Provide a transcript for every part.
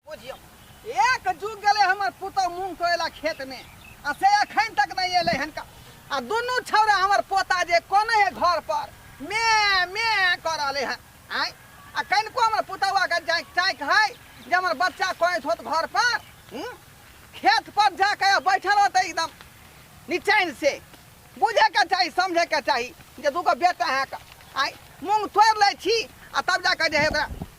बुझियो एक जुग गेले हमर पुतौ मूंग कोयला खेत में आ से अखन तक नहीं एले हन का आ दुनू छौरा हमर पोता जे कोने है घर पर मे मे कर आले हन आय आ कनको हमर पुतौआ के जाय चाक है जे हमर बच्चा कोइस होत घर पर हम्म? खेत पर जाके बैठल होते एकदम निचैन से बुझे के चाही समझे के चाही जे दूगो बेटा है का आय मूंग तोड़ ले छी आ तब जाके जे है ओकरा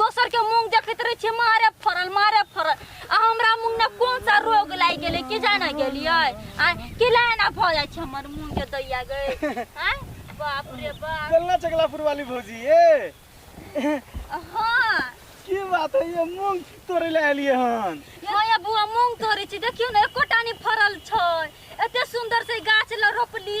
दोसर के मुंह देखैत रहे छियै मारे फरल मारे फरल आ हमरा मुंह ने कोन सा रोग लागि गेलै कि जाने गेलियै आ कि लाना भऽ जाइ छै हमर मुंह के दैया गए आ बाप रे बाप चलना चकलापुर वाली भौजी ए हाँ की बात है ये मूंग तोड़े ले आलिए हन हाँ या बुआ मूंग तोड़े छी देखियो ने एकोटा नहि फरल छै एते सुंदर से गाछ ल रोपली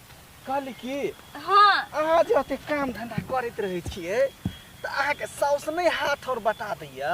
कहली कि हँ अहाँ जे ओते काम धंधा करैत रहै छियै तऽ अहाँके साउस नहि हाथ और बटा दैया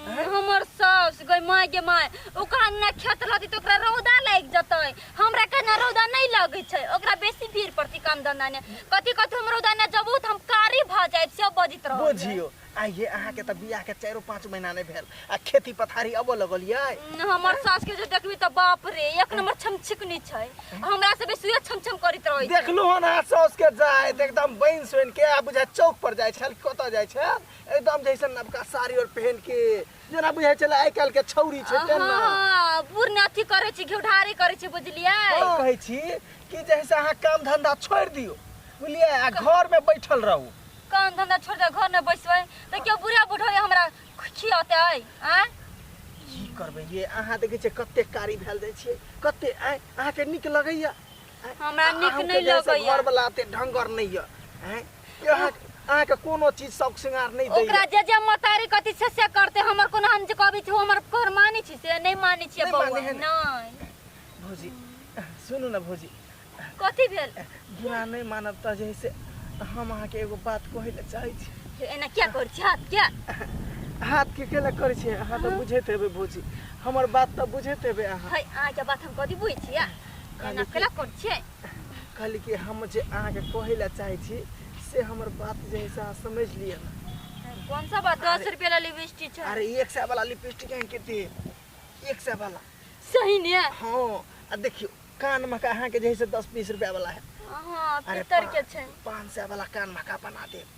हमर साउस गई माय गे माय ओकरा अंगना खेत रहती तो ओकरा रौदा लागि जतै हमरा के ना रौदा नहीं लगै छै ओकरा बेसी भीड़ पड़ती काम धंधा ने कथी कथी हम रौदा ने जबू त हम कारी भ जाय से बजित रहौ बुझियो आइए अहाँ के तऽ बियाह के चारो पाँच महीना नहीं भेल आ खेती पथारी अब लगल ये हमर सास के जे देखबी त बाप रे एक नंबर छमछिकनी छै हमरा से बेसी उहे छमछम करैत रहै छै देखलू हन अहाँ साउस के जायत एकदम बन सोन के आ बुझा चौक पर जाय छल कतऽ जाय छल एकदम जैसे नवका साड़ी और पहन के जेना बुझै छलै आइ काल्हिके छौरी छै तेना हाँ, बुढ़ ने अथी करे छी घिउढारी करे छी बुझलिए हम कहै छी कि जैसे अहाँ काम धंधा छोड़ि दियौ बुझलियै आ घर में बैठल रहू काम धंधा छोड़ दे घर में बैसबै तऽ केओ बुढ़ा बुढ़ो हमरा खियौते आय की करबै ये अहाँ देखै छियै कते कारी भेल जाइ छियै कते आँय अहाँके नीक लगैया आँय? हमरा नीक अहूँके नहि जैसे लगैया। घरवला एते ढंगर नहि यऽ आँय अहाँ अहाँ के कोनो चीज शौक श्रृंगार नहीं दे ओकरा जे जे मतारी कथी से से करते हमर कोनो हम जे कहबी छी हमर घर मानी छी से नहीं मानी छी नहीं बौआ माने है ना। नहीं भौजी सुनू ना भौजी कथी भेल बुरा नहीं मानब त जैसे हम अहाँ के एगो बात कहे ले चाहे छी हे, एना क्या कर छी हाथ क्या हाथ के केला करे छी अहाँ त बुझैत हेबै भौजी हमर बात त बुझैत हेबै अहाँ है अहाँ के बात हम कथी बुझ छी एना केला कर छी कहली कि हम जे अहाँके कहै लए चाहै छी से हमर बात जे है से अहाँ समझ लिअ ना कौन सा बात दस रुपये वाला लिपस्टिक छै अरे एक सौ वाला लिपस्टिक है कितने एक सौ वाला सही ने हाँ आ देखियो कान में का अहाँके जे है से दस बीस रुपया वाला है हाँ अरे पितर के पा- छै पाँच सौ वाला कान में का बना देब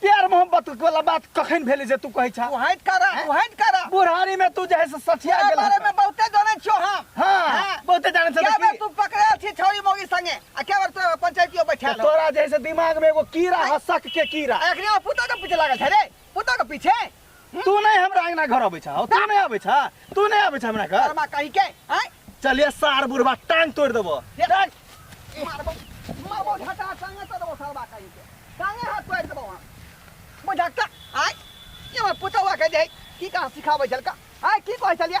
प्यार मोहब्बत वाला बात कखन भेले जे तू कहै छा तू हट करा तू हट करा बुढ़ारी में तू जे है से सठिया तेरा गेल बारे में बहुते जाने छो हम हाँ। हाँ बहुते जाने से क्या बार देखी। तू पकड़े थी छोरी मोगी संगे आ क्या बार तोरा पंचायतियो बैठा तो तोरा जे है से दिमाग में एगो कीड़ा है शक के कीड़ा एकरे पुता के पीछे लागल छै रे पुता के पीछे तू नहीं हमरा अंगना घर अबै छा तू नहीं अबै छा तू नहीं अबै छा हमरा घर कर्मा कहि के आय चलिए सार बुढ़वा टांग तोड़ देबो टांग मारबो मारबो घटा संगे तो देबो सरबा कहि के संगे हाथ तोड़ देबो हम बुझाक आय ये मैं पुतवा के दे की कहां सिखाबै छलका आय की कहै छलिया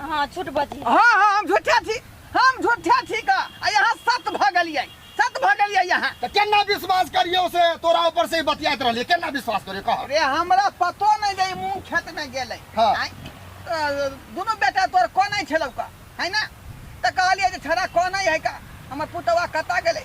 अहाँ छोट बजी हाँ हाँ हम झूठे छी हम झूठे छी का आ यहाँ सत भऽ गेलियै सत भऽ गेलियै यहाँ तऽ केना विश्वास करियौ से तोरा ऊपर से ही बतियाइत रहलियै केना विश्वास करियौ कह अरे हमरा पतो नहीं जे ई मूंग खेत में गेलै हाँ। आँय? अ, दुनू बेटा तोर कोनै छलौ का है ना तऽ कहलियै जे छड़ा कोनै है का हमर पुतवा कतऽ गेलै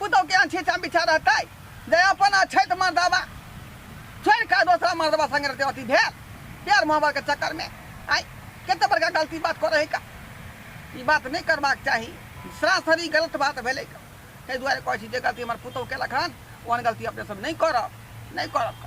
पुतहु केहन छी छाम बिछा रहतै जे अपन अछैत मर्दबा छोड़ि कऽ दोसरा मर्दबा संगे रहतै अथी भेल प्यार मोहब्बत के चक्कर में आइ कते बड़का गलती बात करै है का ई बात नहि करबाक चाही सरासरी गलत बात भेलै का ताहि दुआरे कहै छी जे गलती हमर पुतहु केलक हन ओहन गलती अपने सब नहि करब नहि करब